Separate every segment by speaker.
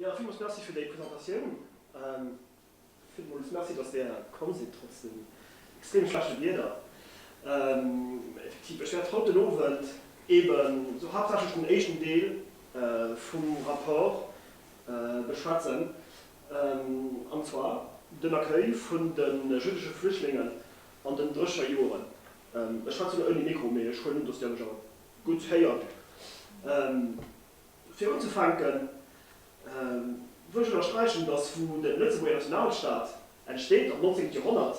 Speaker 1: Jo, villmools Merci fir déi Presentatioun. Villmools Merci, dass Der komm sidd, trotz dem extrem schlechte Wieder. Effektiv, ech wäert haut den Owend eeben esou haaptsächlech den éischten Deel vum Rapport beschwätzen, an zwar den Accueil vun de jüddesche Flüchtlingen an den Drécher Joren. Ech schwätzen ouni Mikro, mee ech huelen un, dass Der mech awer gutt héiert. Fir unzefänken wëll ech ënnersträichen, datt wou de Lëtzebuerger Nationalstaat entsteet, am 19. Joerhonnert,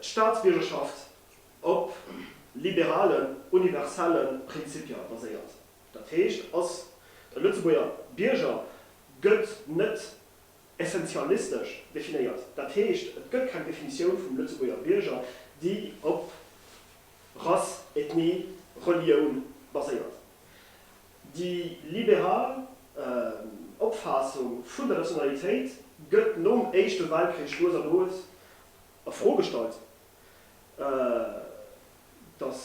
Speaker 1: d'Staatsbiergerschaft op liberalen, universelle Prinzipier baséiert. Dat heescht, ass e Lëtzebuerger Bierger, gëtt net essentialistesch definéiert. Dat heescht, et gëtt keng Definitioun vum Lëtzebuerger Bierger, déi op Rass, Ethnie, Relioun baséiert. Déi liberal Opfaassung vun der Nationalitéit gëtt nom Éischte Weltkrich lues a lues a Fro gestallt, datt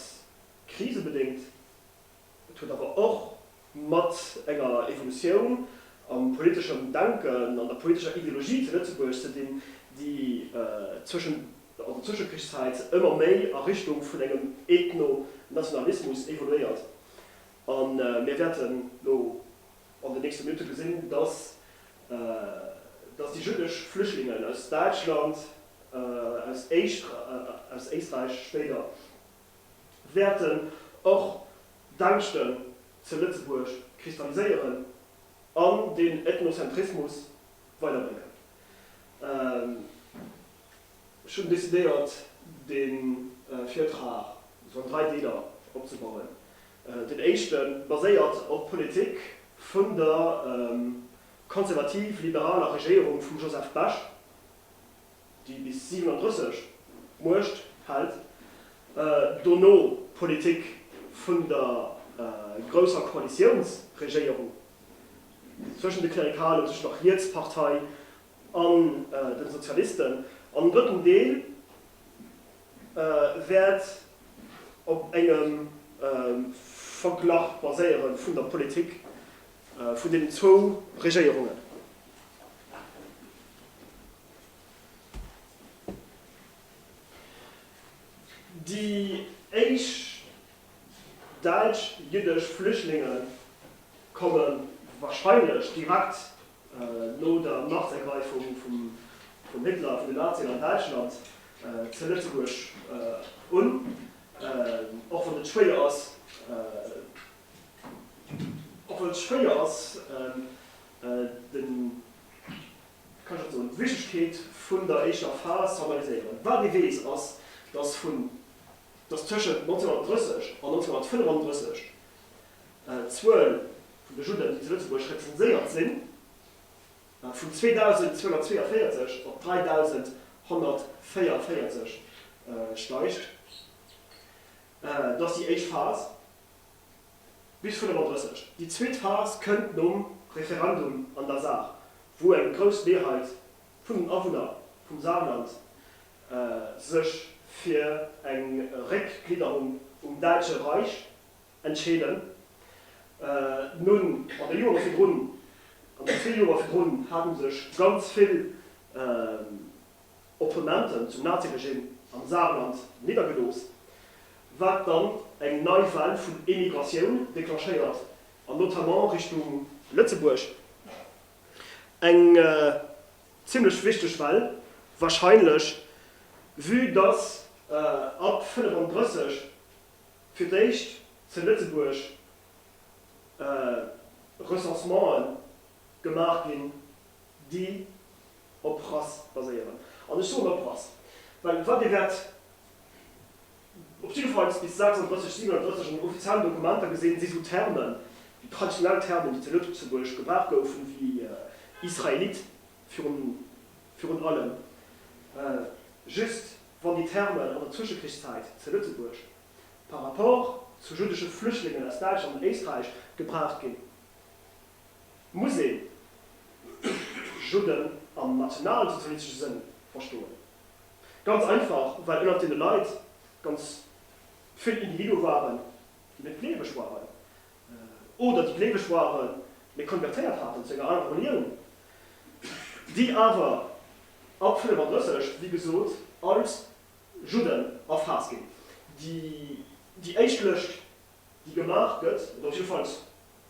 Speaker 1: krisebedéngt. Et huet awer och mat enger Evolutioun am politeschen Denken, an der politescher Ideologie zu Lëtzebuerg ze dinn, déi zwëschent an der Zwëschekrichszäit ëmmer méi a Richtung vun engem Ethno-Nationalismus evoluéiert. A mir wäerten elo an den nächste Minutte gesinn, datt datt déi jüddesch Flüchtlingen aus Däitschland, aus Éisträich spéider, wäerten och d'Ängschten ze Lëtzebuerg kristalliséieren an den Ethnozentrismus weiderbréngen. Ech hunn decidéiert, de Virtrag sou an dräi Deeler opzebauen. Den éischte baséiert op d'Politik vun der konservativ-liberaler Regéierung vum Joseph Bech. déi bis 37 d'Muecht hält, dono d'Politik vun der grousser Koalitiounsregéierung zwëschen de Klerikalen, zwëschen der Rietspartei an den Sozialisten, an den drëtten Deel wäert op engem Verglach baséieren vun der Politik vun deenen zwou Regéierungen. Déi éischt däitsch-jiddesch Flüchtlinge komme warscheinlech direkt no der Machtergreifung vum Hitler vun den Nazien an Däitschland ze Lëtzebuerg un, och wann et schwéier ass den kann ech net soen, d'Wichtegkeet vun der éischer Phas formaliséieren. Wat ee weess, ass, dass vun, dass tëschent 1930 an 1935 d'Zuel vun de Judden, déi zu Lëtzebuerg representéiert sinn, vun 2.242 op 3.144 steigt. Dat ass déi éischt Phas. Bis 35. Déi zweet Phas kënnt nom Referendum an der Saar, wou eng grouss Mehrheit vun den Awunner vum Saarland sech fir eng Réckglidderung um Däitsche Reich entscheeden. Nun, an de Jore virdrun, an de zwee Joer virdrun, hate sech ganz vill Opponenten zum Naziregimm am Saarland niddergelooss, wat dann eng nei Well vun Emigratioun declenchéiert an notamment Richtung Lëtzebuerg. Eng zimlech wichteg Well wahrscheinlech, vue dass ab 35 fir d'éischt ze Lëtzebuerg Recensementen gemaach ginn, déi op Rass baséieren. An ech soen op Rass, well wat Dir wäert op jidde Fall bis 36, 37 an den offiziellen Dokumenter gesinn, si esou Termen, déi traditionell Termen, déi zu Lëtzebuerg gebraucht goufen, wéi Israelit virun allem, just wann déi Termen an der Zwëschekrichszäit zu Lëtzebuerg par rapport zu juddesche Flüchtlingen aus Däitschland an Éisträich gebraucht ginn. muss een Judden am nationalsozialistesche Sënn verstoen. Ganz einfach, well ënnert deene Leit ganz vill Individue waren, déi net gleeweg waren, oder déi gleeweg waren, mee konvertéiert haten zu enger anerer Relioun, déi awer ab 35, wéi gesot, als Judden erfaasst ginn. Déi éischt Lëscht. déi gemaach gëtt, oder jiddefalls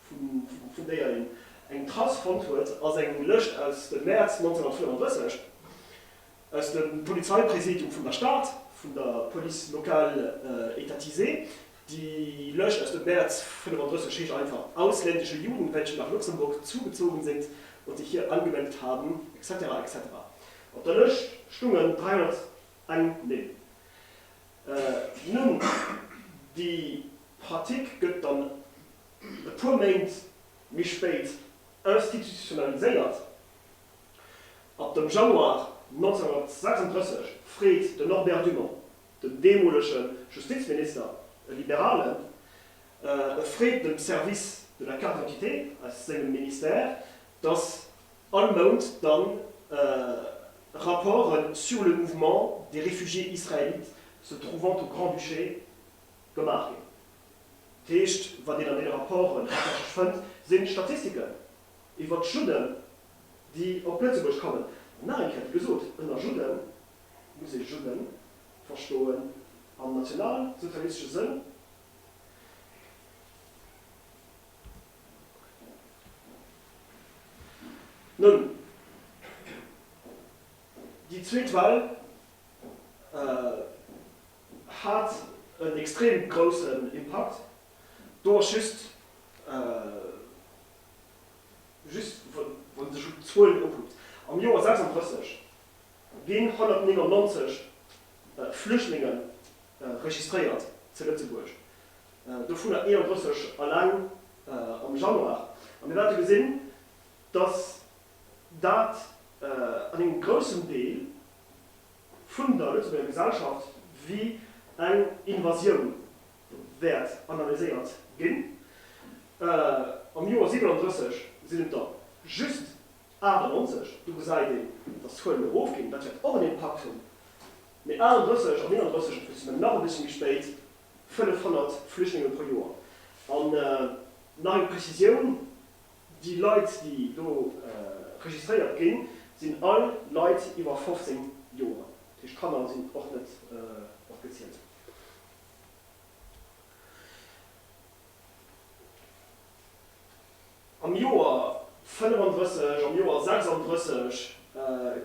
Speaker 1: vun déier een eng Trace fonnt huet, ass eng Lëscht aus dem Mäerz 1934 aus dem Polizeipräsidium vun der Stad, vun der Police locale étatisée. Déi Lëscht aus dem Mäerz 1935 heescht einfach, Ausländische Juden, welche nach Luxemburg zugezogen sind und sich hier angemeldet haben, etc. Etc. Op der Lëscht stungen 301 Nimm. Nun, déi Pratik gëtt dann e puer Méint méi spéit institutionaliséiert. Ab dem Januar 1936 freet den Norbert Dumont, den deemolege Justizminister, e Liberalen, e freet dem Service de la Carte d'identité aus sengem Ministère, datt All Mount dann Rapporten sur le mouvement des réfugiés israélites se trouvant au Grand-Duché gemaach ginn. Dat heescht, wat een an deene Rapporten haaptsächlech fënnt, si Statistiken iwwert d'Judden, déi op Lëtzebuerg kommen. An nach eng Kéier, wéi gesot, ënner Judde muss ee Judde verstoen am nationalsozialistesche Sënn. Nun, déi zweet Well hat en extrem groussen Impakt. Do ass just, just wann ee sech d'Zuelen ukuckt, am Joer 36 ginn 199 Flüchtlinge registréiert zu Lëtzebuerg. dovunner 31 eleng am Januar. A mir wäerte gesinn, dass dat an engem groussen Deel vun der Lëtzebuerger Gesellschaft wéi eng Invasioun wäert analyséiert ginn. Am Joer 37 sinn et der just 98, do gesäit een, dass d'Zuelen erofginn, dat wäert och en Impakt hunn, mee 31 an 39, dat wësse mir nach e bëssche méi spéit. 500 Flüchtlinge pro Joer. An nach eng Prezisioun, Déi Leit, déi do registréiert ginn, sinn all Leit iwwer 15 Joer. Dat heescht, Kanner sinn och net mat gezielt. Am Joer 35, am Joer 36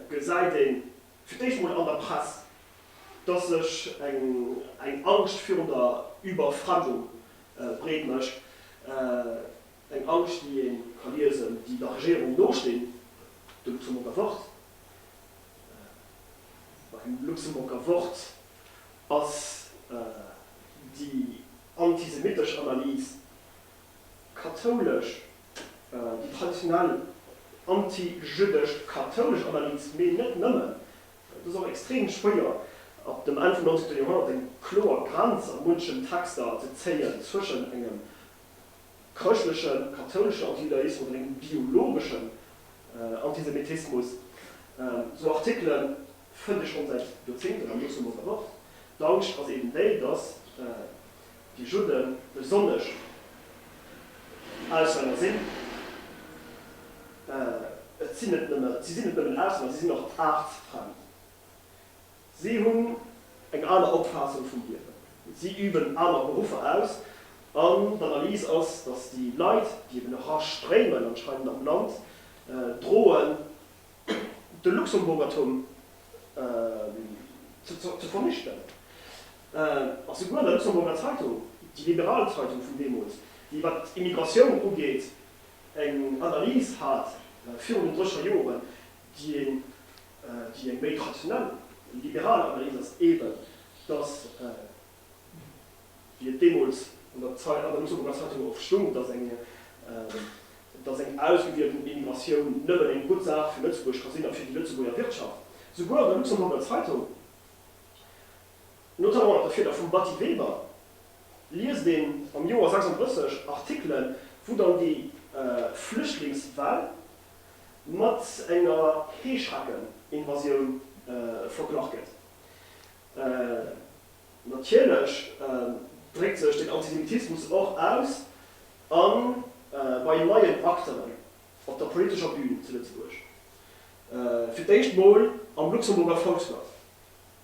Speaker 1: gesäit ee fir d'éischt mol an der Press, dass sech eng Angscht virun der Überfremdung breet mécht, eng Angscht, déi ee ka liesen, déi der Regierung nostinn, de Luxemburger Wort. Beim Luxemburger Wort ass déi antisemittesch Analys. kathoulesch, déi traditionell anti-jüddesch kathoulesch Analys, mee net nëmmen, et ass och extrem schwéier ab dem Enn vum 19. Joerhonnert eng kloer Grenz a munchen Texter ze zéien zwëschen engem chrëschtleche kathouleschen Antijudaismus oder engem biologeschen Antisemitismus. Sou Artikelen fënnt ee schonn säit Joerzéngten am Luxemburger Wort. D'Angscht ass eben déi, datt Déi Judden, besonnesch Auslänner sinn, et sinn net nëmmen, si sinn net nëmmen Auslänner, si sinn och aartsfremd. Si hunn eng aner Opfaassung vum Liewen, si üben aner Beruffer aus. An d'Analys ass, datt déi Leit, déi eben erastréimen anscheinend am Land, droen de Luxemburgertum ze vernichten. Ass souguer an der Luxemburger Zeitung, déi liberal Zeitung vun deemools, déi wat d'Immigratioun ugeet eng Analys hat virun den Drescher Joren, déi eng méi traditionell liberal Analys ass, eben datt, wéi et deemools an der Luxemburger Zeitung och stung, datt eng ausgewielten Immigratioun nëmmen eng gutt Saach fir Lëtzebuerg ka sinn a fir déi Lëtzebuerger Wirtschaft. Souguer an der Luxemburger Zeitung notamment mat der Fieder vum Batty Weber, liest een am Joer 36 Artikelen, wou dann déi Flüchtlingswell mat enger Heeschrecken-Invasioun verglach gëtt. Natierlech dréckt sech den Antisemitismus och aus a bei neien Acteuren op der politescher Bün zu Lëtzebuerg, fir d'éischt mol am Luxemburger Volksblatt.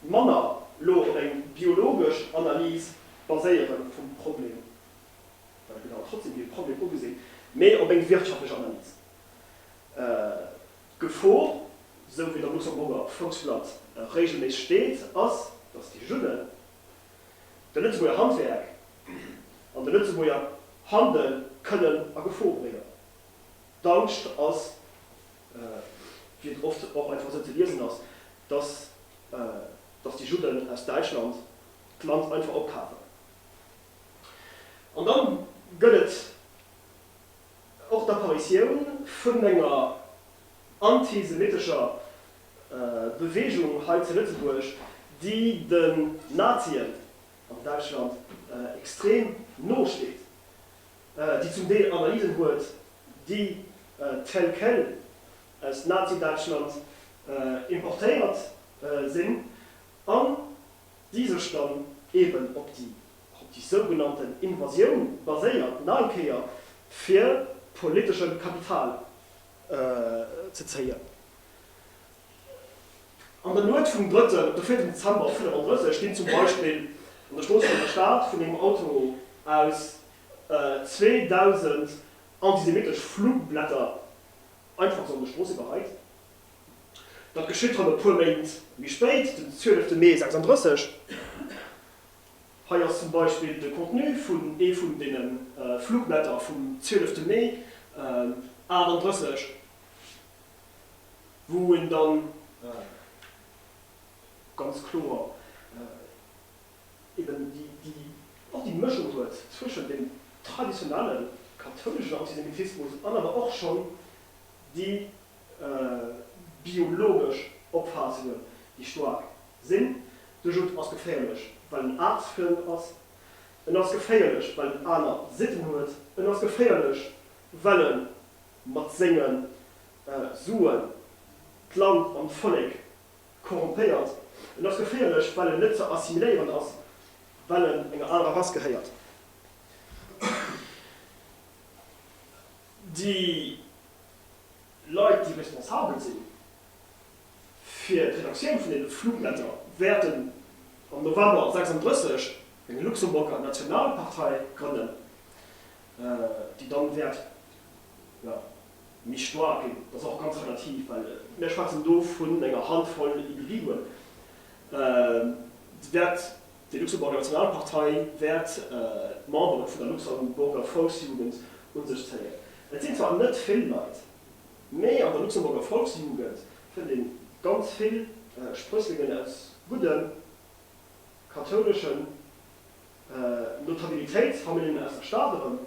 Speaker 1: manner lo op eng biologesch Analys baséiere vum Problem, well et gëtt awer trotzdem wéi e Problem ugesinn, mee op eng wirtschaftlech Analys. D'Gefor, sou wéi et am Luxemburger Volksblatt regelméisseg steet, ass, datt déi Judden de Lëtzebuerger Handwerk an de Lëtzebuerger Handel kënnen a Gefor bréngen. D'Angscht ass wéi et oft och einfach esou ze liesen ass, dass dass déi Judden aus Däitschland d'Land einfach opkafen. An da gëtt et och d'Apparitioun vun enger antisemitescher Beweegung hei zu Lëtzebuerg, déi den Nazien an Däitschland extrem no steet. déi zum Deel Analysen huet, déi tel quel aus Nazi-Däitschland importéiert sinn an déi sech dann eeben op déi sougenannte Invasioun baséiert, nach eng Kéier fir politesche Kapital ze zéien. An der Nuet vum drëtten op de vierten Dezember um 35 ginn zum Beispill an der Strooss vun der Stad vun engem Auto aus 2.000 antisemittesch Flugblätter einfach esou an der Strooss iwwerreit. Dat geschitt dann e puer Méint méi spéit, den 12 Mee 36. Hei ass zum Beispill de Contenu vun ee vun deene Flugblätter vum 12 Mee 38. wou en dann ganz kloer eben och déi Mëschung huet zwëschen dem traditionelle kathouleschen Antisemitismus an awer och schonn déi biologesch Opfaassungen, déi staark sinn. De Judd ass geféierlech, well en aartsfriem ass. En ass geféierlech, well en aner Sitten huet. En ass geféierlech, well e. mat senge Suen d'Land an d'Vollek korrompéiert. En ass geféierlech, well en net ze assimiléieren ass, well en enger anerer Rass gehéiert, Déi Leit, déi responsabel si fir d'Redaktioun vun deene Flugblätter, wäerten am November 36 eng Luxemburger Nationalpartei grënnen, déi dann wäert jo, méi staark ginn. Dat ass och ganz relativ, well mir schwätzen do vun enger Handvoll Individuen. Wäert déi Luxemburger Nationalpartei, wäert d'Membere vun der Luxemburger Volksjugend un sech zéien? Et sinn zwar net vill Leit, mee an der Luxemburger Volksjugend fënnt ee ganz vill Sprësslingen aus gudden, kathouleschen Notabilitéit fannt een aus der Stad erëm.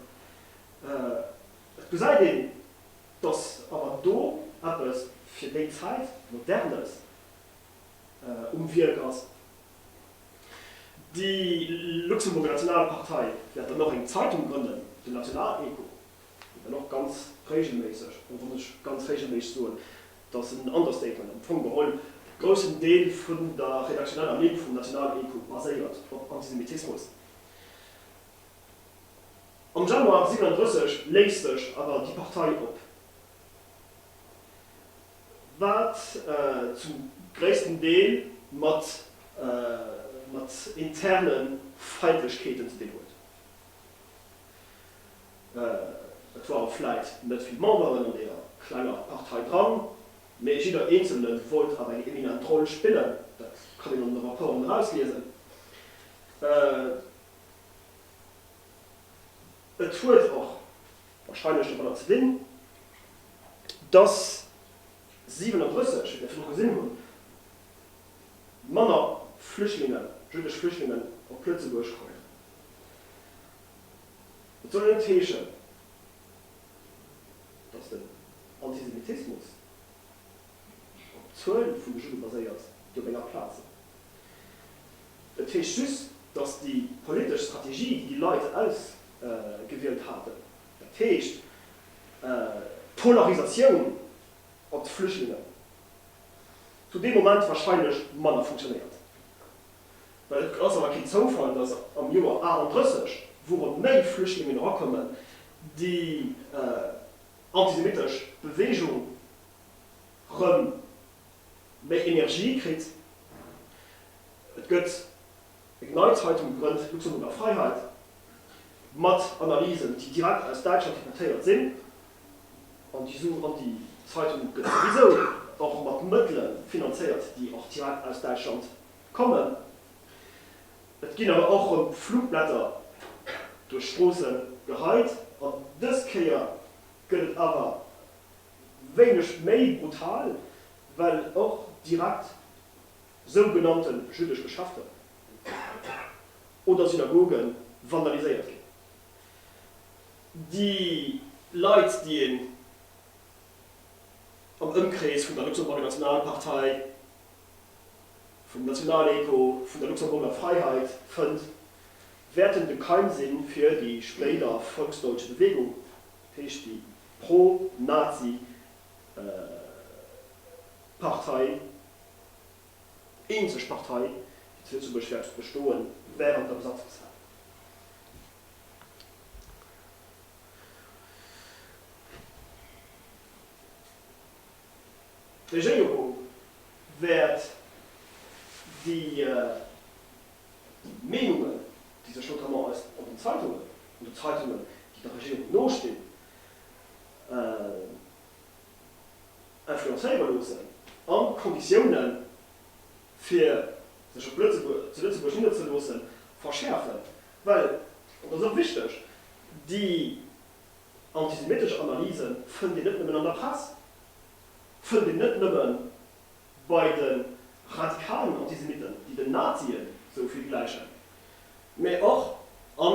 Speaker 1: Et gesäit een, dass awer do eppes fir déi Zäit Modernes um Wierk ass. Déi Luxemburger Nationale Partei wäert dann och eng Zeitung grënnen, den Nationalecho. an och ganz régelméisseg, an da muss ech ganz régelméisseg soen, dass en Understatement, am Fong geholl e groussen Deel vun der redaktioneller Ligne vum Nationalecho baséiert op Antisemitismus. Am Januar 37 léist sech awer déi Partei op, wat zum gréissten Deel mat interne Feindlechkeeten ze dinn huet. Et waren vläit net vill Memberen an deeër klenger Partei dran, mee jidder Eenzelne wollt awer eng eminent Roll spillen. Dat kann een an de Rapporten erausliesen. Et huet och warscheinlech domadder ze dinn, dass 37, wéi mir virdru gesinn hunn, manner Flüchtlingen, jüddesch Flüchtlingen op Lëtzebuerg kommen. Dat soll net heeschen, datt den Antisemitismus op d'Zuel vun de Judde baséiert, déi op enger Plaz sinn. Et heescht just, datt déi politesch Strategie, déi déi Leit ausgewielt haten, dat heescht d'Polarisatioun op d'Flüchtlingen, zu deem Moment warscheinlech manner funktionéiert. Well et ass awer keen Zoufall, datt am Joer 38, wourop méi Flüchtlingen erakommen, déi antisemittesch Beweegung rëm méi Energie kritt. Et gëtt eng nei Zeitung gegrënnt, Luxemburger Freiheit, mat Analysen, déi direkt aus Däitschland importéiert sinn. An déi Zeitung gëtt souwisou och mat Mëttele finanzéiert, déi och direkt aus Däitschland kommen. Et ginn awer och rëm Flugblätter duerch d'Stroosse geheit. An dës Kéier gëtt et awer wéineg méi brutal, well och direkt sougenannte jüddesch Geschäfte oder Synagoge vandaliséiert ginn. Déi Leit, déi een am Ëmkrees vun der Luxemburger Nationalpartei vum nationalen Echo vun der Luxemburger Freiheit fënnt, wäerten de Keim sinn fir déi spéider Volksdeutsche Bewegung, dat heescht déi pro-Nazi Partei, eenzeg Partei, déi zu Lëtzebuerg wäert bestoen, während der Besatzungszäit. D'Regéierung wäert déi Meenungen, déi sech notamment eis an den Zeitungen, an de Zeitungen, déi der Regéierung nostinn, influencéiere loossen an d'Konditiounen, fir sech op Lëtzebuerg, zu Lëtzebuerg nidderzeloossen, verschäerfen. Well, an dat ass och wichteg, déi Antisemitische Analyse fënnt een net nëmmen an der Press, fënnt een net nëmme bei de radikalen Antisemiten, déi den Nazie sou vill gläichen, mä och a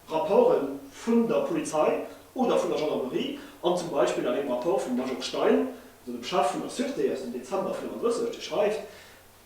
Speaker 1: Rapporte vun der Polizei oder vun der Gendarmerie an zum Beispill an engem Rapport vum Major Stein, also dem Chef vun der Sûreté aus dem Dezember 1934, dee schreift,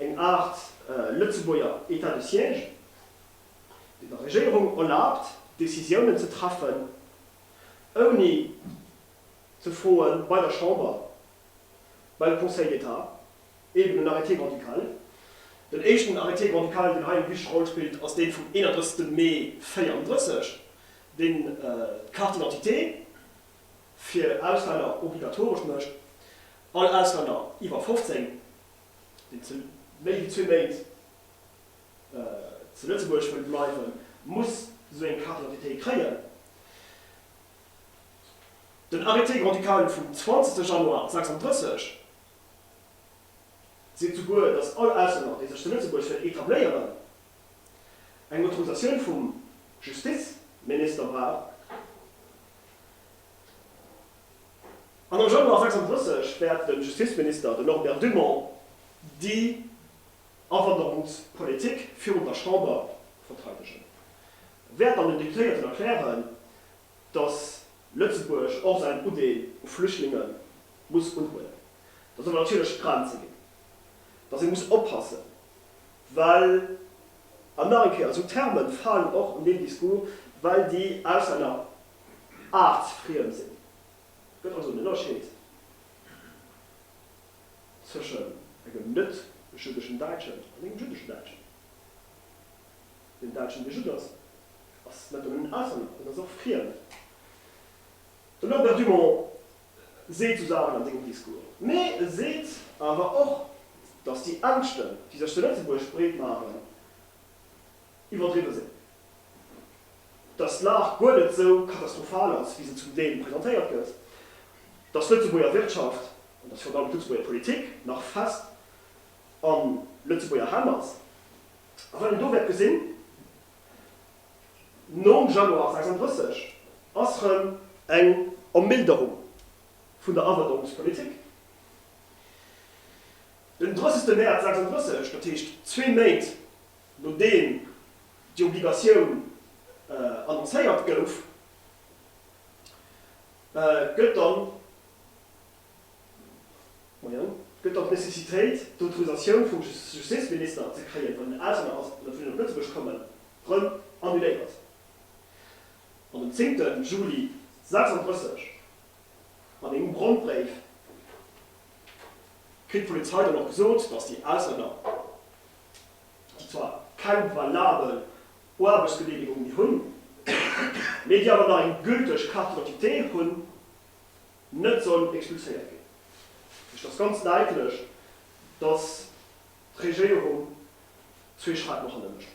Speaker 1: eng Aart lëtzebuerger Etat de siège, deen der Regierung erlaabt, Decisiounen ze treffen, ouni ze froe bei der Chamber, beim Conseil d'Etat, eben en Arrêté grand-ducal. Den éischten Arrêté grand-ducal, deen hei eng wichteg Roll spillt, ass dee vum 31. Mee 34, deen d'Carte d'identité, fir Auslänner obligatoresch mécht, all Auslänner iwwer 15, deen méi wéi zwee Méint zu Lëtzebuerg wëll bleiwen, muss esou eng Carte d'identité kréien. Den Arrêté grand-ducal vum 20 Januar 36 seet souguer, datt all Auslänner, dee sech zu Lëtzebuerg wëll etabléieren, eng Autorisatioun vum Justizminister brauch. An am Januar 36 wäert de Justizminister, den Norbert Dumont, déi Awanderungspolitik virun der Chamber verteidegen, wäert dann den Deputéierten erklären, datt Lëtzebuerg och säin Udeel u Flüchtlinge muss unhuelen. Da solle natierlech Grenze ginn. dass ee muss oppassen, well, an nach eng Kéier, esou Terme falen och an deem Discours, well déi aus enger aartsfriem sinn. Et gëtt also en Ënnerscheed tëschent engem net-jüddeschen Däitschen an engem jüddeschen Däitschen. Deen Däitschen, dee Judd ass, ass net nëmmen en Auslänner, en ass och friem. De Norbert Dumont seet sou Saachen an sengem Discours, mee e seet awer och, datt déi Ängschten, déi sech zu Lëtzebuerg breet maachen, iwwerdriwwe sinn, datt d'Lag guer net sou katastrophal ass, wéi se zum Deel presentéiert gëtt, datt d'Lëtzebuerger Wirtschaft an datt virun allem d'Lëtzebuerger Politik nach fest a Lëtzebuerger Hänn ass, a well een do wäert gesinn, Nom Januar 36 ass rem eng Ermilderung vun der Awanderungspolitik. Den 30 Mäerz 36, dat heescht zwee Méint nodeem déi Obligatioun annoncéiert gouf, gëtt dann. Gëtt dann d'Necessitéit, d'Autorisatioun vum Justizminister ze kréien, wann en Auslänner ass, an e wëll op Lëtzebuerg kommen, rëm annuléiert? An um 10 Juli 36, an engem Brandbréif, kritt d'Polizei dann och gesot, datt déi Auslänner, déi zwar keng valabel Aarbechtsgeneemegung méi hunn, mee déi awer nach eng gülteg Carte d'identité hunn, net soll expulséiert ginn. Et ass ganz däitlech, datt d'Regéierung zwee Schrack no hanne mécht,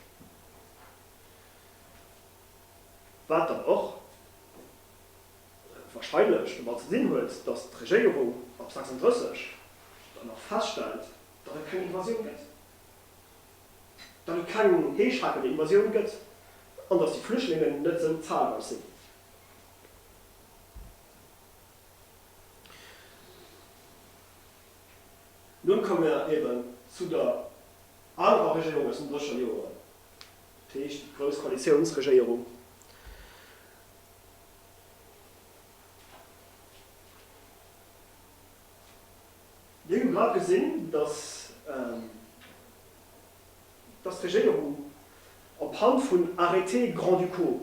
Speaker 1: wat dann och warscheinlech domat ze dinn huet, datt d'Regéierung ab 36 dann och feststellt, datt et keng Invasioun gëtt, datt et keng heeschraackende Invasioun gëtt an datt déi Flüchtlingen net esou zahlreich sinn, Nun komme mer eben zu der anerer Regierung aus den Drescher Joeren, dat heescht déi grouss Koalitiounsregierung. Mir hu grad gesinn, dass. dass d'Regéierung op Hand vun Arrêtés grand-ducaux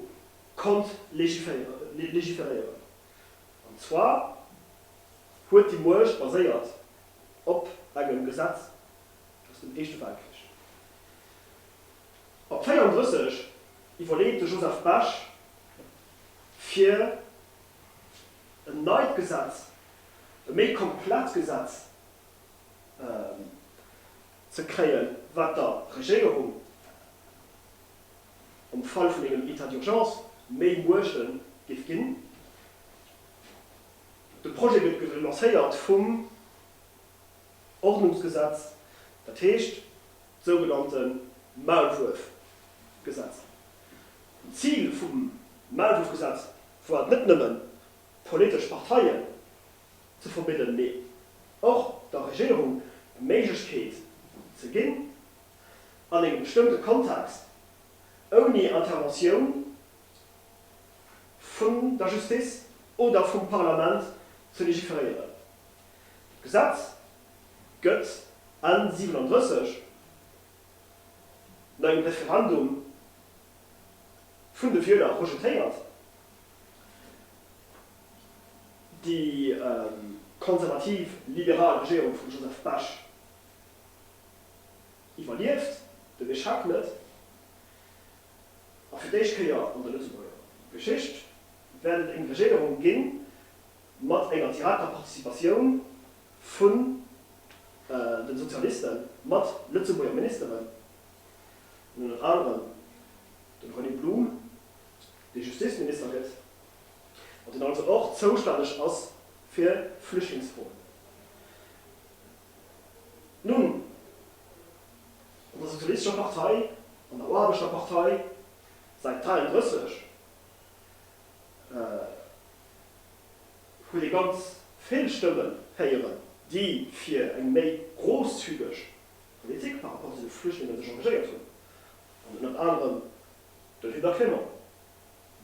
Speaker 1: konnt légiféréieren. An zwar huet déi Muecht baséiert op engem Gesetz aus dem Éischte Weltkrich. Ab 34 iwwerleet de Joseph Bech fir en neit Gesetz, e méi komplett Gesetz, ze kréien, wat der Regéierung am Fall vun engem État d'urgence méi Muechte géif ginn. De Projet gëtt ge lancéiert vum Ordnungsgesetz, dat heescht sougenannte Maulwuerfgesetz. D'Zil vum Maulwuerfgesetz war et net nëmmen, politesch Parteien ze verbidden, mee och der Regierung d'Méiglechkeet ze ginn, an engem bestëmmte Kontext, ouni Interventioun vun der Justice oder vum Parlament, ze legiferéieren. D'Gesetz gëtt Enn 37 no engem Referendum vun de Wieler rejetéiert. Déi konservativ-liberal Regierung vum Joseph Bech iwwerlieft den Echec net, a fir d'éischt Kéier an der Lëtzebuerger Geschicht wäert et eng Regierung ginn, mat enger direkter Participatioun vun de Sozialisten, mat Lëtzebuerger Ministeren, ënnert anerem dem René Blum, dee Justizminister gëtt. an deen also och zoustänneg ass fir Flüchtlingsfroen. Nun, an der Sozialistescher Partei, an der Aarbechter-Partei, säit 33, huet ee ganz vill Stëmmen héieren, déi fir eng méi grousszügeg Politik par rapport zu de Flüchtlingen sech engagéiert hunn, an ënnert anerem den Hubert Clement,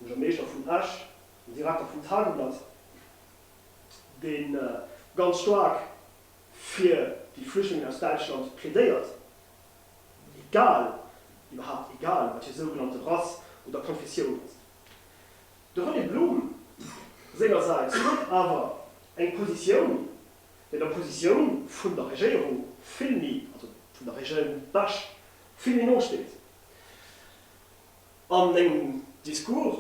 Speaker 1: de Buergermeeschter vun Esch, den Direkter vum Tageblatt, dee ganz staark fir déi Flüchtlingen aus Däitschland plädéiert, egal, iwwerhaapt egal, wat hir sougenannte Rass oder Konfessioun ass. De René Blum sengersäits huet awer eng Positioun, déi der Positioun vun der Regéierung vill méi, also vun der Régine Besch, vill méi no steet. an engem Discours,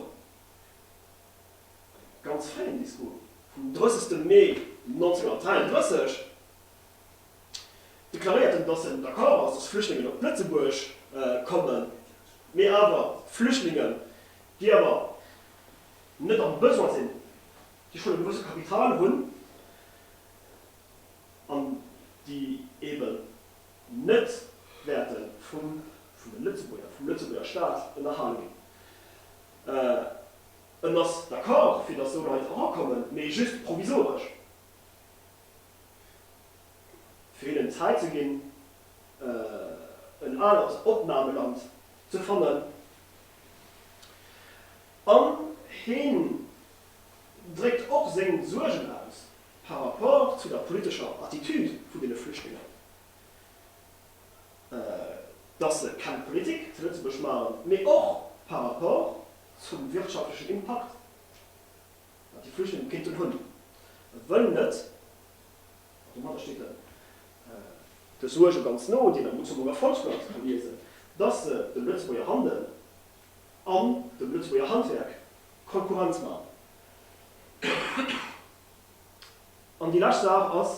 Speaker 1: ganz fréien Discours vum 30 Mee 1933, deklaréiert en, datt en d'accord ass, datt Flüchtlingen op Lëtzebuerg kommen, mee awer Flüchtlingen, déi awer net am Besoin sinn, déi schonn e gewësse Kapital hunn an déi eeben, net wäerte vum Lëtzebuerger Staat ënnerhale ginn. En ass d'accord, fir datt sou Leit erakommen, mee just provisoresch, fir hinnen d'Zäit ze ginn, en anert Opnameland ze fannen. An hien dréckt och seng Suergen aus. par rapport zu der politescher Attitude vun deene Flüchtlingen, dass se keng Politik zu Lëtzebuerg maachen, mee och par rapport zum wirtschaftlechen Impakt, wat déi Flüchtlingen kéinten hunn, wëll net, an domadder steet en de Suerge ganz no, déi en am Luxemburger Volksblatt ka liesen, dass se dem Lëtzebuerger Handel an dem Lëtzebuerger Handwerk Konkurrenz maachen. An déi lescht Saach ass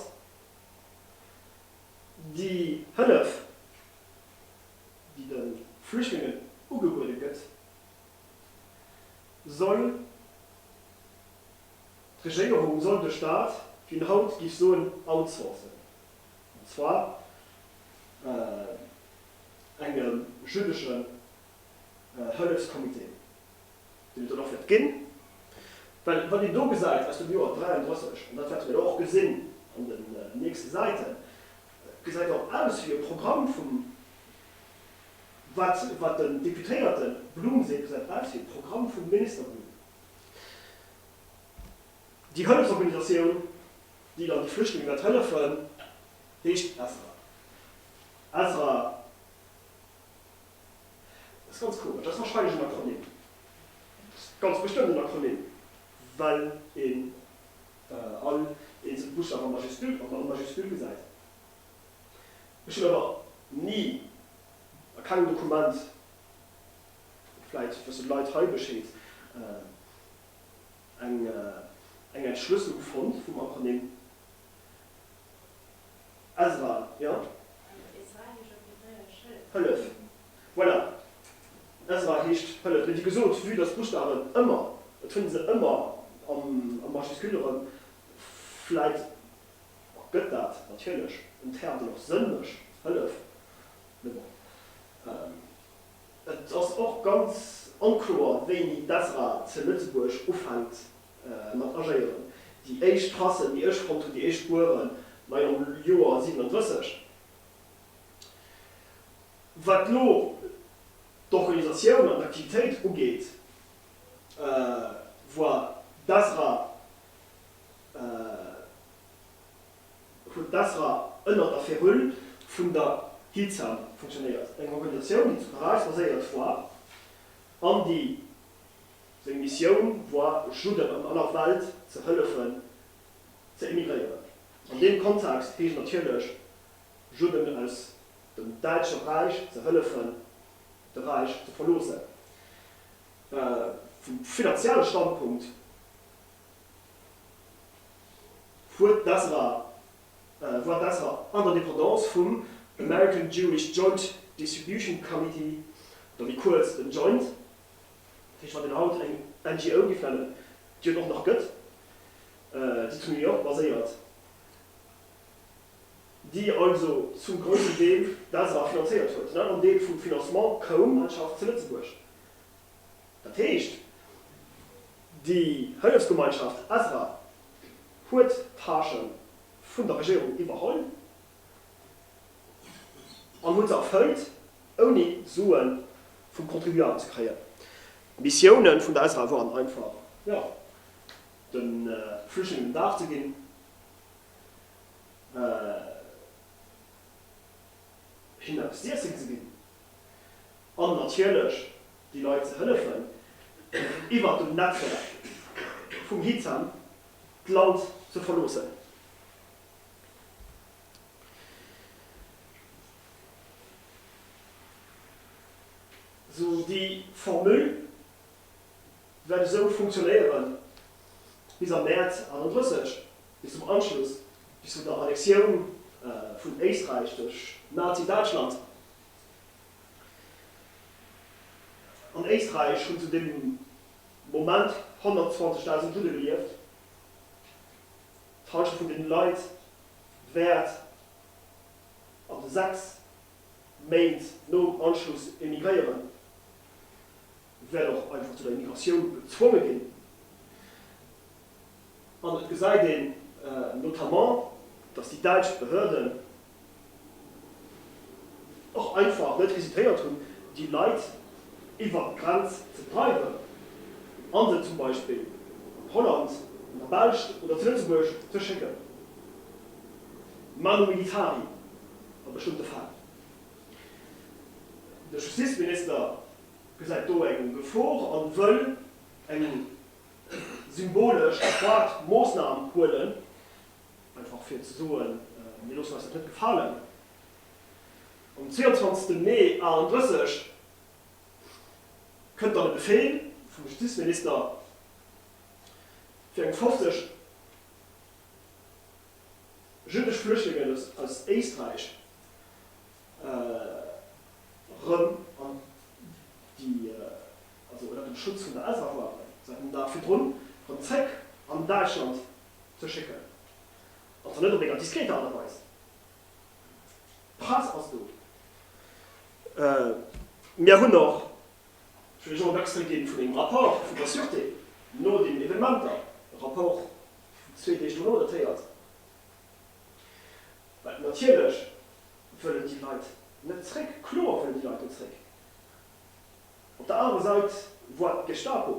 Speaker 1: déi Hëllef, déi de Flüchtlingen ugebuede gëtt, soll d'Regéierung, soll de Staat, wéi een haut géif soen, outsourcen, an zwar engem jüdesche Hëllefskommitee, deen et dann och wäert ginn, well wat een do gesäit aus dem Joer 33, an dat wäerte mir da och gesinn an den nächste Säiten, gesäit och aus wéi e Programm vum, wat wat den Deputéierte Blum seet, gesäit aus wéi e Programm vum Minister Blum. Déi Hëllefsorganisatioun, déi dann de Flüchtlinge wäert hëllefen, heescht Ezra. Ezra. Dat ass ganz komesch. Dat ass wahrscheinlech en Akronym. Dat ass ganz bestëmmt en Akronym, well een all eenzel Buchstaw a Majuscule an Majuscule gesäit. Ech hunn awer ni a kengem Dokument, vläit wëssen d'Leit hei Bescheed, eng Entschlësselung fonnt vum Akronym. Ezra, jo? Hëllef. Voilà. Ezra heescht Hëllef. Mee wéi gesot, vue dass d'Buschtawen ëmmer, et fënnt ee se ëmmer a Majuscule erëm, vläit ergëtt dat natierlech en Term, deen och Sënn mécht, Hëllef. Mee bon, et ass och ganz onkloer, wéini d'Ezra zu Lëtzebuerg ufänkt mat agéieren. Déi éischt Trassen, déi ech fonnt hunn, déi éischt Spueren, ma jo, am Joer 37. Wat elo d'Organisatioun an d'Aktivitéit ugeet, war d'Esra, huet d'Esra ënner der Férule vun der Hilzan funktionéiert, eng Organisatioun, déi zu Paräis baséiert war an déi Seng Missioun war, Judden an aller Welt ze hëllefen ze emigréieren. An deem Kontext heescht natierlech, Judden aus dem Däitsche Räich ze hëllefen, de Räich ze verloossen. Vum finanzielle Standpunkt huet d'Ezra, war d'Ezra an der Dependance vum American Jewish Joint Distribution Committee, oder méi kuerz, den Joint. Heescht, wann een haut eng NGO giff nennen, déi et och nach gëtt, déi zu New York baséiert, déi also zum groussen Deel d'ASA finanzéiert huet, den aneren Deel vum Financement koum an schafft zu Lëtzebuerg, dat heescht, déi Hëllefsgemeinschaft ASA huet d'Tâche vun der Regierung iwwerholl, An huet se erfëllt, ouni Sue vum Contribuable ze kréien. D'Missiounen vun der Esra waren einfach, jo, de Flüchtlingen en Daf ze ginn, hinnen eppes z'iessen ze ginn an natierlech déi Leit ze hëllefen, iwwert dem Netzwerk vum Hitham d'Land ze verloossen. Sou déi Formule wäert esou funktionéiere bis am Mäerz 31, bis zum Anschluss, bis zu der Annexioun vun Éisträich duerch Nazi-Däitschland. An Éisträich hunn zu deem Moment 120.000 Judde gelieft. D'Halschent vun den Leit wäert an de 6 Méint nom Anschluss emigréieren, wäert och einfach zu der Emigratioun gezwonge ginn. An et gesäit een notamment, dass déi däitsch Behörden och einfach net hesitéiert hunn, déi Leit iwwert d'Grenz ze dreiwen a se zum Beispill an Holland, an der Belsch oder zu Lëtzebuerg ze schécken. Manu militari a bestëmmte Fäll. De Justizminister gesäit do eng Gefor a wëll eng symbolesch adequat Moossnam huelen. Einfach fir ze soen, mir loossen eis dat net gefalen, um 22 Mee 38 kënnt dann e Befehl vum Justizminister fir eng 50 jüddesch Flüchtlingen aus Éisträich erëm an déi, also ënnert dem Schutz vun der Elsass-Loi, säit en Dag virdrun, erëm zréck an Däitschland ze schécken, an zwar net op enger diskret Aart a Weis. D'Press ass do. Mir hunn och, ech wëll elo en Extrait ginn vun engem Rapport vun der Sûreté no deenen Evenementer, e Rapport vun zwee Deeg dono datéiert, well natierlech wëllen déi Leit net zréck, kloer wëllen déi Leit net zréck. Op der anerer Säit woart d'Gestapo,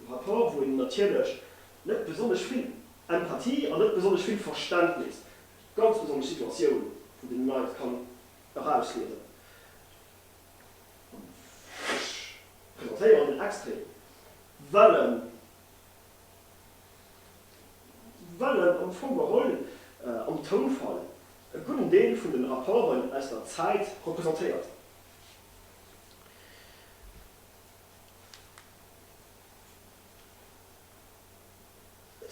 Speaker 1: E Rapport, wou een natierlech net besonnesch vill Empathie an net besonnesch vill Verständnis fir d'ganz besonnesch Situatioun vun deenen Leit kann erausliesen. Ech presentéieren den Extrait, well en, well en am Fong geholl am Tounfall e gudden Deel vun de Rapporten aus der Zäit representéiert.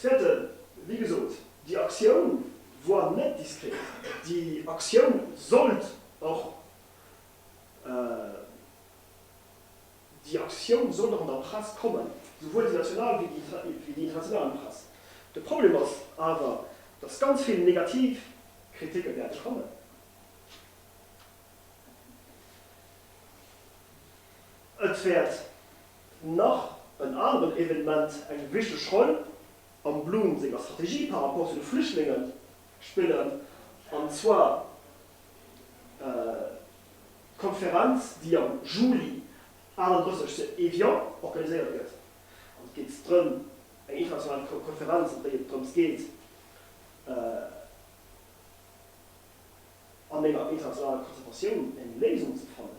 Speaker 1: Zwetten, wéi gesot, déi Aktioun woar net diskret. Déi Aktioun sollt och, déi Aktioun sollt och an der Press kommen, souwuel déi national wéi déi internationalen Press. De Problem ass awer, dass ganz vill negativ Kriticke wäerte kommen. Et wäert nach en aneren Evenement eng wichteg Roll am Blum senger Strategie par rapport zu de Flüchtlingen spillen, an zwar d'Konferenz, déi am Juli 38 zu Evian organiséiert gëtt. Et geet drëm, eng international Konferenz, an déi et drëms geet, an enger internationaler Konzertatioun eng Léisung ze fannen.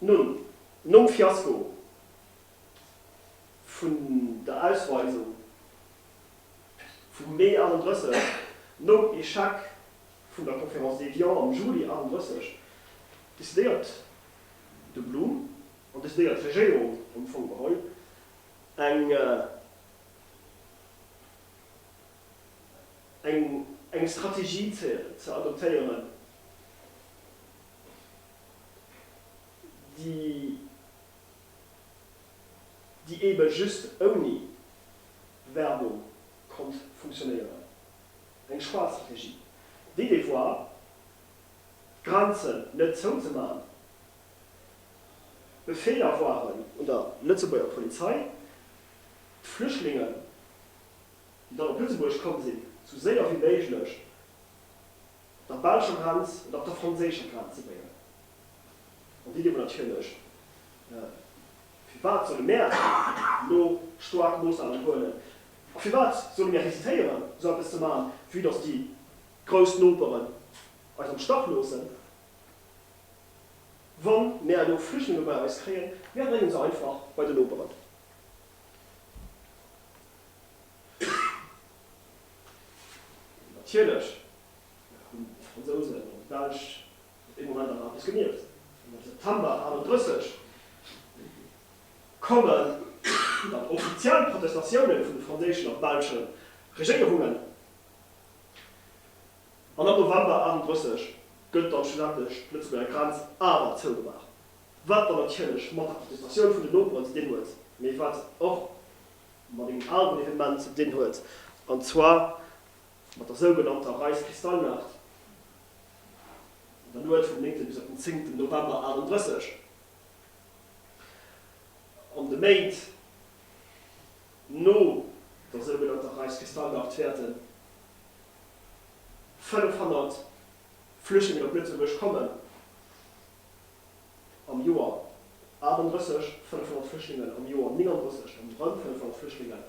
Speaker 1: Nun, nom Fiasko vun der Ausweisung vum Mee 38, nom Echec vun der Conférence d'Évian am Juli 38, decidéiert de Blum an decidéiert d'Regéierung am Fong geholl, eng eng Strategie ze adoptéieren, déi déi eebe just ouni Werbung konnt funktionéieren, eng schwaarz Regie. D'Idee war, d'Grenzen net zouzemaachen. D'Befeeler waren un der Lëtzebuerger Polizei, d'Flüchtlingen, déi dann op Lëtzebuerg komm sinn, sou séier wéi méiglech der belscher Grenz an och der franséischer Grenz ze bréngen. An déi Dir mer natierlech, firwat solle mär elo staark Moossnahmen huelen a firwat solle mir hesitéieren, esou eppes ze maachen, vue dass déi grouss Noperen eis am Stach loossen? Wa mär elo Flüchtlinge bei eis kréien, mär brénge se einfach bei de Noperen. Natierlech hunn d'Fransousen an d'Belsch op dee Moment awer eppes gemierkt. Am September 1938 kommen dann offiziell Protestatioune vun de franséischen a belsche Regéierungen, an am November 1938 gëtt dann schlussendlech d'Lëtzebuerger Grenz awer zougemaach, wat dann natierlech mat der Protestatioun vun den Noperen zu dinn huet, mee wat och mat engem aneren Evenement ze dinn huet, an zwar mat der sougenannter Reise Kristallnacht an der Nuet vum 9. bis op den 10. November 38. An de Méint no der sougenannter Reise Kristallnacht wäerten 500 Flüchtlingen op Lëtzebuerg kommen. am Joer 38 500 Flüchtlingen, am Joer 39 erëm 500 Flüchtlingen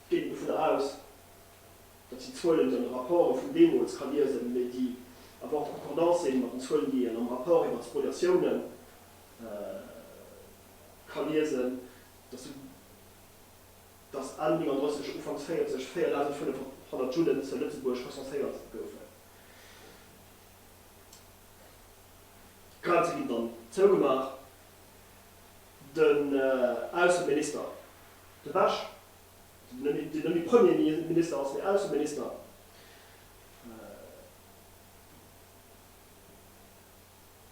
Speaker 1: geet een dovun aus, datt déi Zuelen, déi an de Rapporte vun deemools ka liesen, mee déi awer en Concordance sinn mat den Zuelen, déi een am Rapport iwwert d'Spoliatioune ka liesen, datt datt Enn 39, Ufanks 40 4.500 Judden ze Lëtzebuerg recenséiert goufen. D'Grenze ginn dann zougemaach. Den Ausseminister De Bech, deen net méi Premierminister ass, mee Ausseminister,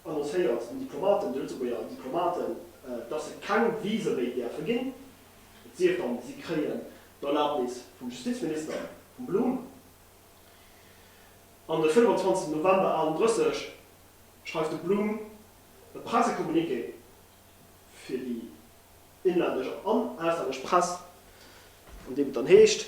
Speaker 1: annoncéiert den Diplomaten, de Lëtzebuerger Diplomaten, dass se keng Visë méi däerfe ginn, et sief dann, si kréien d'Erlaabnis vum Justizminister, vum Blum. An de 25 November 38 schreift de Blum e Pressecommuniqué fir déi inlännesch an auslännesch Press, an deem et dann heescht,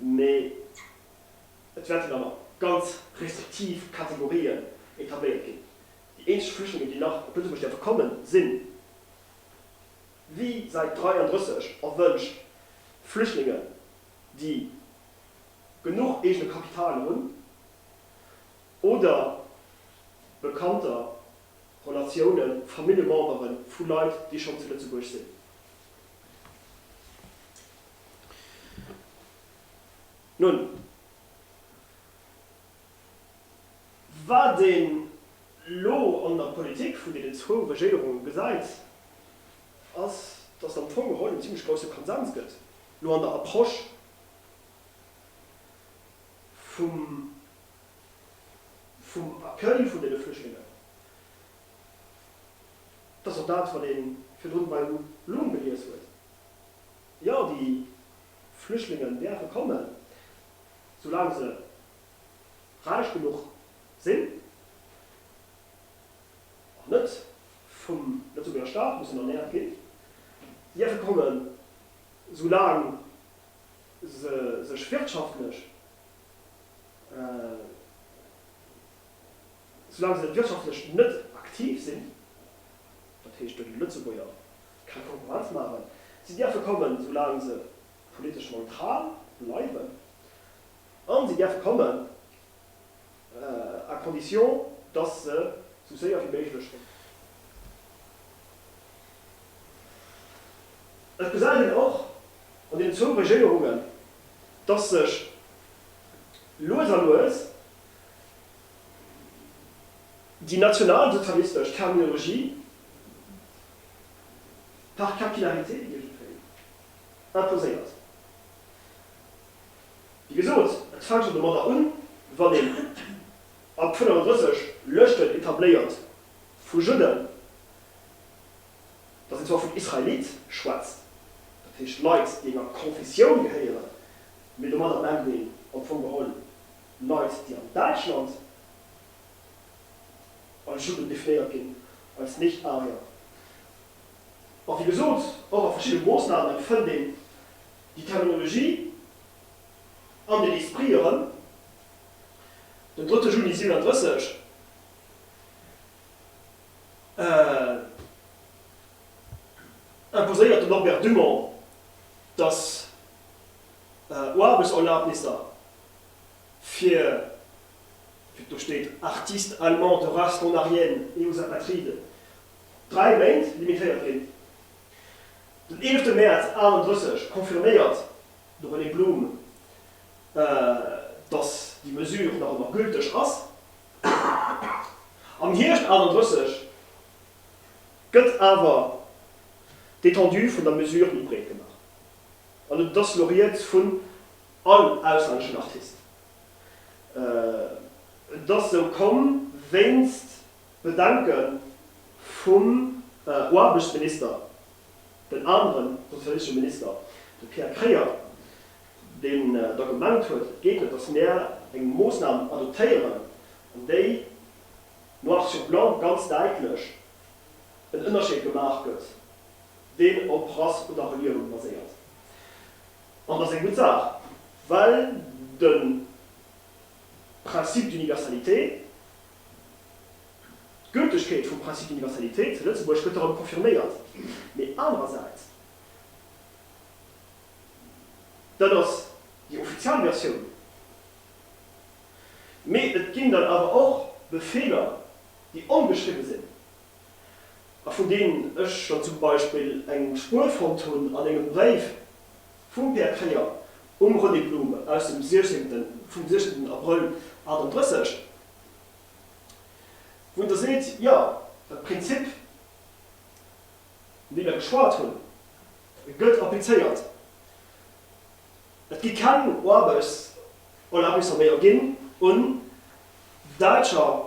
Speaker 1: Mee et wäerten awer ganz restriktiv Kategorien etabléiert ginn. Déi eenzeg Flüchtlinge, déi nach op Lëtzebuerg däerfe kommen, sinn wéi säit 33 erwënscht Flüchtlingen, déi genuch eegene Kapital hunn oder Bekannter, Relatiounen, Familljemembere vu Leit, déi schonn zu Lëtzebuerg sinn. Nun, wat een elo an der Politik vun deenen zwou Regéierunge gesäit, ass, datt am Fong erëm en zimlech grousse Konsens gëtt elo an der Approche vum Accueil vun deene Flüchtlingen. Dat ass och dat, wat ee virdrun bei Loom gelies huet. Jo, déi Flüchtlingen däerfe kommen, soulaang se räich genuch sinn an net vum Lëtzebuerger Staat mussen ernäert ginn. Si däerfe kommen, soulaang se sech wirtschaftlech. Soulaang se wirtschaftlech net aktiv sinn, dat heescht den Lëtzebuerger keng Konkurrenz maachen, si däerfe kommen, soulaang se politesch neutral bleiwen a si däerfe kommen à condition, datt se sou séier wéi méiglech kommen. Et gesäit een och an deenen zwou Regéierungen, datt sech lues a lues, Déi nationalsozialistesch Terminologie par capillarité iergendwéi imposéiert. Wéi gesot, et fänkt schonn domadder un, wann een ab 35 Lëschten etabléiert vu Judden, datt een zwar vun Israelite schwätzt, dat heescht Leit, déi enger Konfessioun gehéieren, mee domadder mengt een am Fong geholl Leit, déi an Däitschland als Juden definéiert ginn, als Nicht-Arier. A wéi gesot, och a verschiddene Moosnamen fënnt een déi Terminologie an den Esprit erëm. Den 3. Juni 37, imposéiert de Norbert Dumont, datt Oarbechtserlabnisser fir, wéi et do steet, Artistes allemands de race rhônarienne et aux apatrides, dräi Méint limitéiert ginn. Den 11 Mäerz 38 confirméiert de René Blum, datt déi Mesure nach ëmmer gülteg ass. Am Hierscht 38 gëtt awer d'Étendue vun der Mesure méi breet gemaach an et ass elo Rieds vu all auslänneschen Artist. Et ass esou komm wéinst Bedenke vum Aarbechtsminister, den anere sozialistesche Minister, de Pierre Kreyer, deen da gemengt huet, et geet net, datt mir eng Moossnam adoptéieren, an déi noir sur blanc ganz däitlech en Ënnerscheed gemaach gëtt, deen op Rass oder Reliounen baséiert. An dat ass eng gutt Saach, well de Principe d'universalité, d'Gültegkeet vum Principe d'universalité zu Lëtzebuerg gëtt erëm confirméiert. Mee anerersäits, dat ass déi offizial Versioun, mee et ginn dann awer och Befeeler, déi ongeschriwwe sinn. a vun deenen ech scho zum Beispill eng Spuer fonnt hunn an engem Bréif vum Pär Kremer um René Blum aus dem 16, vum 16 Abrëll 38, wou Der seet, jo, dat Prinzip, vun deem mer geschwat hunn, gëtt applizéiert, et gi keng Aarbechtserlaabnisser méi erginn un Däitscher.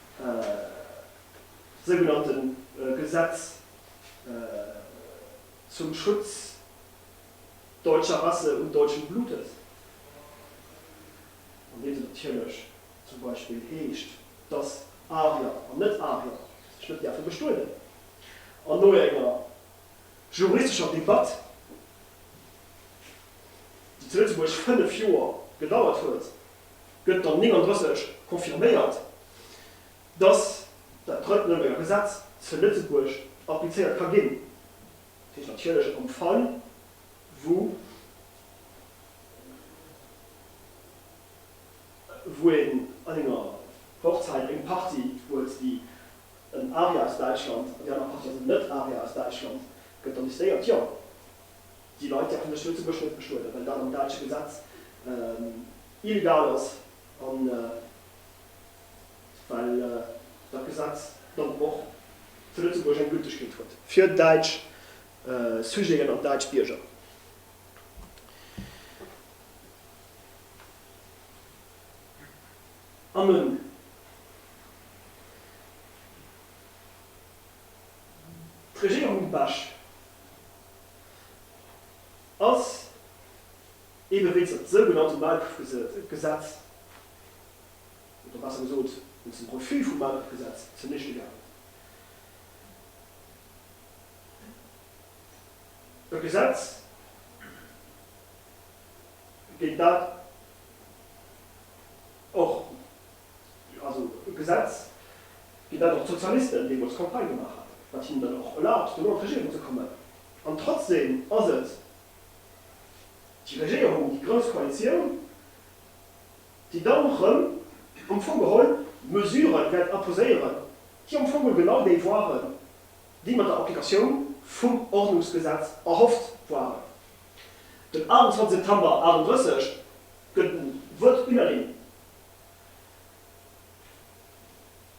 Speaker 1: sougenannte Gesetz zum Schutz deutscher Rasse und deutschen Blutes, an deem se natierlech zum Beispill heescht, dass Arier an Net-Arier sech net däerfe bestueden, an no enger juristescher Debatt, déi zu Lëtzebuerg fënnef Joer gedauert huet, gëtt dann 39 confirméiert, dass dat drëtt Nouremberger Gesetz zu Lëtzebuerg applizéiert ka ginn, dat heescht natierlech am Fall wou een an enger Hochzeit eng Partie huet, déi en Aria aus Däitschland an déi aner Partie ass en Net-Aria aus Däitschland, gëtt dann décidéiert, jo. Déi Leit däerfen sech Lëtzebuerg net bestueden, well dat am däitsche Gesetz illegal ass a well dat Gesetz dann och zu Lëtzebuerg eng Gültegkeet huet. Fir däitsch Sujeten an däitsch Bierger. An nun d'Regierung Basch. ass eebe wéinst der sougenannte Maulkuerfgesetz, oder besser gesot wéinst dem Refus vum Maulkuerfgesetz, zunichte gaangen. E Gesetz géint dat och. Also e Gesetz, fir dat och d'Sozialisten deemools Campagne gemaach haten, wat hinnen dann och erlaabt, dono an d'Regierung ze kommen. An trotzdem ass et déi Regierung, déi grouss Koalitioun, déi dann erëm am Fong geholl Mesuren wäert imposéieren, déi am Fong geholl genau déi waren, déi mat der Applikatioun vum Ordnungsgesetz erhofft waren. Den 28 September 38 gëtt en Vote unanime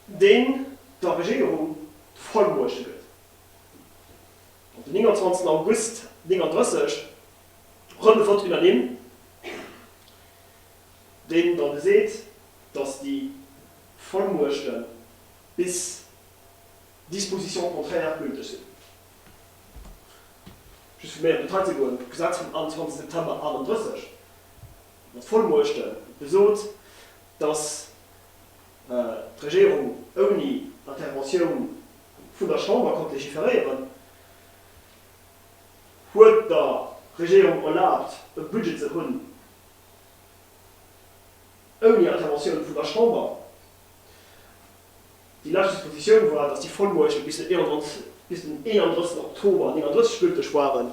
Speaker 1: deen der Regéierung d'Vollmuechte gëtt, op den 29 August 1939 erëm de Vote unanime, deen da geseet, datt déi Vollmuechte bis disposition contraire gülteg sinn. Just fir méi am Detail ze goen, D'Gesetz vum 21 September 1938, mat voll Muechte gesot, datt d'Regierung ouni Interventioun vun der Chamber konnt legiferéieren, huet der Regierung erlaabt e Budget ze hunn ouni Interventioun vun der Chamber. Déi lescht Dispositioun war, datt déi Vollmuechte bis den 31 Oktober 1939 gülteg waren.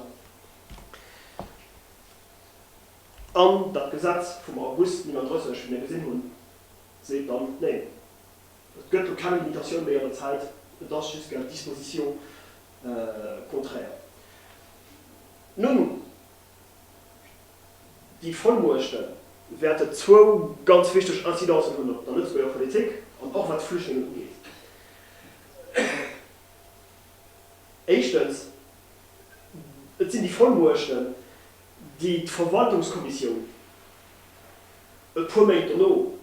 Speaker 1: An dat Gesetz vum August 39, wéi mir gesinn hunn, seet dann, Neen, et gëtt do keng Limitatioun méi an der Zäit, et ass just gel disposition contraire. Nun, déi Vollmuechte wäerte zwou ganz wichteg Incidencen hunn op der Lëtzebuerger Politik an och wat d'Flüchtlingen ugeet. Éischtens, et sinn déi Vollmuechten, déi d'Verwaltungskommissioun e puer Méint dono,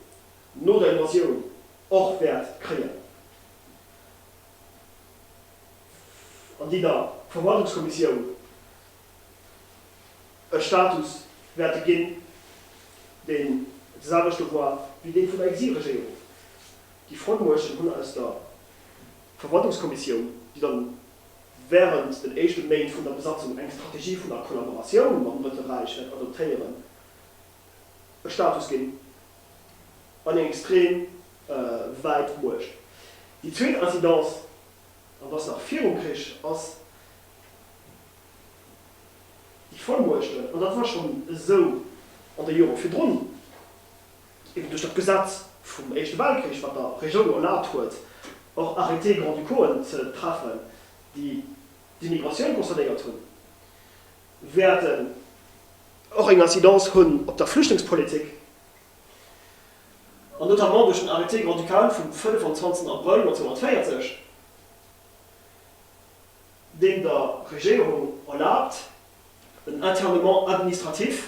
Speaker 1: no der Invasioun, och wäert kréien, an déi der Verwaltungskommissioun e Status wäerte ginn, deen de selwechte war wéi dee vun der Exilregéierung. Déi Frontmuechten hunn aus der Verwaltungskommissioun, déi dann wärend den éischte Méint vun der Besatzung eng Strategie vun der Kollaboratioun mam Drëtte Räich wäert adoptéieren, e Status ginn an eng extrem wäit Muecht. Déi zweet Incidence, an dass nach virum Krich, ass déi, Vollmuechten, an dat war schonn esou an de Jore virdrun, eben duerch dat Gesetz vum Éischte Weltkrich, wat der Regioun jo erlaabt huet, och Arrêtés grand-ducauxen ze treffen, déi d'Immigratioun concernéiert hunn, wäerten och eng Incidence hunn op der Flüchtlingspolitik, an notamment duerch den Arrêté grand-ducal vum 25 Abrëll 1940, deen der Regierung erlaabt, en Internement administratif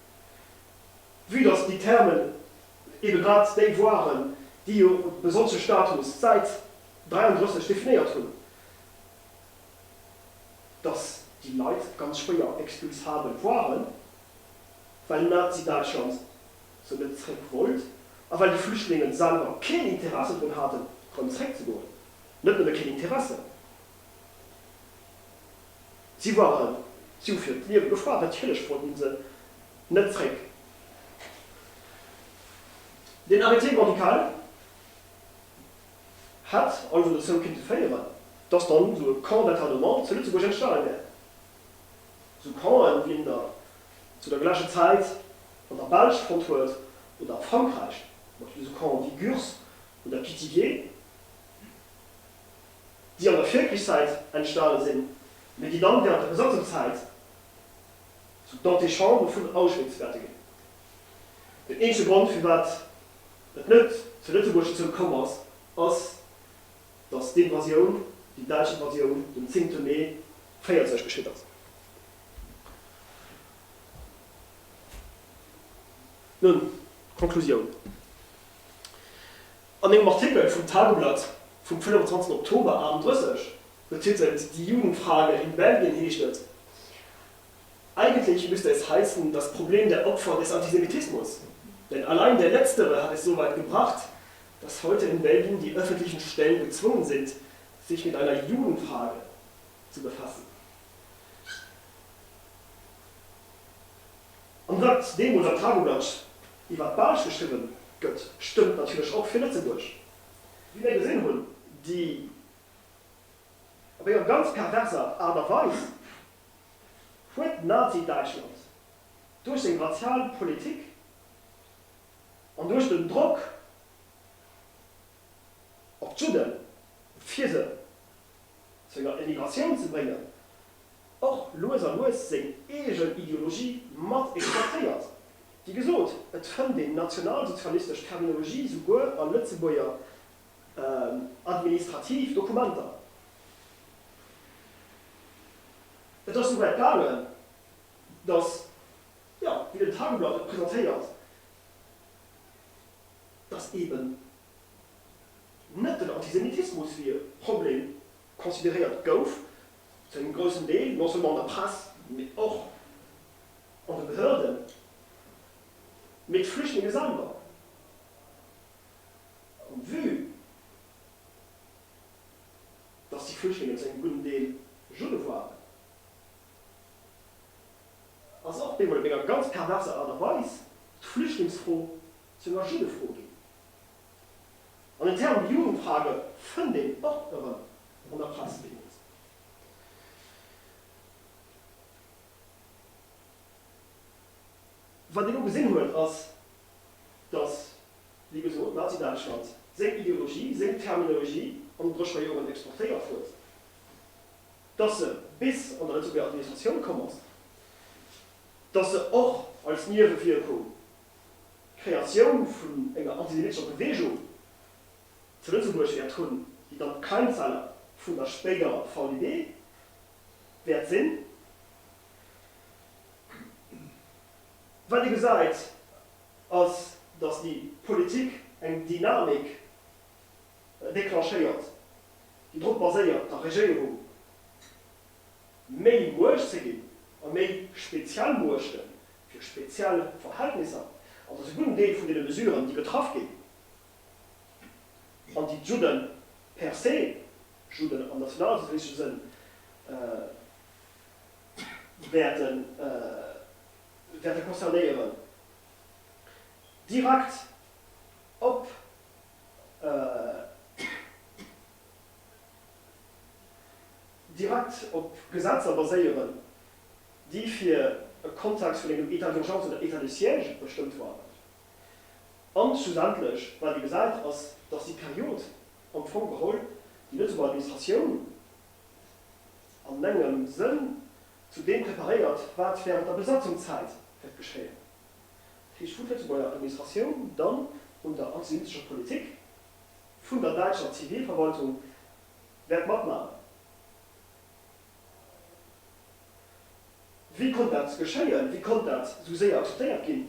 Speaker 1: Vue dass déi Thermen eebe grad déi waren, déi jo e besonnesche Status d'Säit 33 definéiert hunn, dass déi Leit ganz schwéier expulsabel waren, well Nazi-Däitschland se net zréck wollt a well déi Flüchtlingen selwer keen Interesse drun haten, erëm zréckzegoen, net nëmme keen Interesse, Si waren, si hu fir d'Liewe gefaart, natierlech wollten se net zréck. Den Arrêté médical hätt also dozou kinnte féieren, dass dann esou e Camp d'internement zu Lëtzebuerg entstanen wär. Esou Campen, wéi een der zu der gläicher Zäit an der Belsch fonnt huet oder a Frankräich, zum Beispill esou Camps wéi Gurs oder Pithiviers. déi an der Virkrichszäit entstane sinn, mee déi dann während der Besatzungszäit zu d'Antichambre vun Auschwitz wäerte ginn. Den eenzege Grond, firwat et net zu Lëtzebuerg dozou komm ass, ass, datt d'Invasioun, déi däitsch Invasioun, den zéngte Mee 1940 geschitt ass. Nun, d'Konklusioun. An engem Artikel vum Tageblatt vum 25 Oktober 38, betitelt Die Jugendfrage in Belgien heescht et, Eigentlich müsste es heißen, das Problem der Opfer des Antisemitismus, denn allein der letztere hat es soweit gebracht, dass heute in Belgien die öffentlichen Stellen gezwungen sind, sich mit einer Judenfrage zu befassen. An wat deemools am Tageblatt iwwert d'Belsch geschriwwen gëtt, stëmmt natierlech och fir Lëtzebuerg. Wéi mir gesinn hunn, déi op enger ganz perverser Aart a Weis huet Nazi-Däitschland duerch seng razial Politik an duerch den Drock op d'Judden, fir se zu enger Emigratioun ze bréngen, och lues a lues seng eegen Ideologie mat exportéiert. Wéi gesot, et fënnt een nationalsozialistesch Terminologie souguer a Lëtzebuerger administrativ Dokumenter. Et ass souwäit gaangen, datt, jo, wéi den Tageblatt et presentéiert, datt eeben net den Antisemitismus fir e Problem consideréiert gouf, zu engem groussen Deel non seulement an der Press, mee och an de Behörden, mee d'Flüchtlinge selwer. An vue dass déi Flüchtlinge zu engem gudden Deel Judde waren, ass och bemol op enger ganz perverser Aart a Weis d'Flüchtlingsfro zur Maschinnefro ginn. An den Term Jugendfrage fënnt een och erëm an der Pressebilanz. Wat een elo gesinn huet, ass, datt, wéi gesot, Nazi-Däitschland seng Ideologie, seng Terminologie an den Drëschber Joren exportéiert huet, datt se bis an der Lëtzebuerger Administratioun komm ass, datt se och als Niewewierkung d'Kreatioun vun enger antisemitescher Beweegung zu Lëtzebuerg wäert hunn, déi dann d'Keimzeller vun der spéiderer VEB wäert sinn. Wat ee gesäit, ass, datt déi Politik eng Dynamik declenchéiert, déi drop baséiert, der Regéierung méi Muecht ze ginn a méi speziell Muechten Fir speziell Verhältnisser, an dass e gudden Deel vun deene Mesuren, déi getraff ginn, an déi d'Judde per se, Judden am nationalsozialistesche Sënn, wäerte concernéieren, direkt op Gesetzer baséieren. déi fir e Kontext vun engem État d'urgence oder État de siège bestëmmt waren. An schlussendlech, wat ee gesäit, ass, datt déi Period am Fong geholl déi Lëtzebuerger Administratioun an engem Sënn zu deem preparéiert, wat während der Besatzungszäit wäert geschéien. Dat heescht, wou d'Lëtzebuerger Administratioun dann un der antisemitescher Politik vun der däitscher Zivilverwaltung wäert matmachen. Wéi konnt dat geschéien? Wéi konnt dat esou séier akzeptéiert ginn?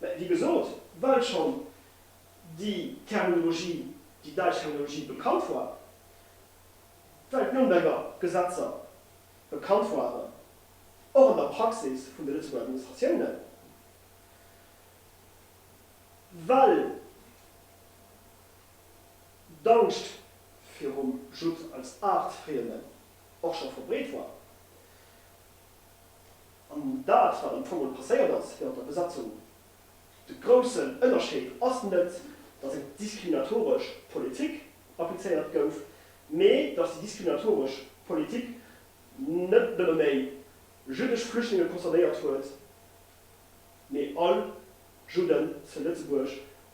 Speaker 1: Mä wéi gesot, well schonn déi Terminologie, déi däitsch Terminologie bekannt war, well d'Nürnberger Gesetzer bekannt waren, och an der Praxis vun de Lëtzebuerger Administratiounen, well. D'Angscht virum Judd als Aartfriemden och scho verbreet war, an dat wat am Fong och passéiert ass wärend der Besatzung, de groussen Ënnerscheed ass net, datt eng diskriminatoresch Politik applizéiert gouf, mee datt déi diskriminatoresch Politik net nëmme méi jüddesch Flüchtlinge concernéiert huet, mee all Judden zu Lëtzebuerg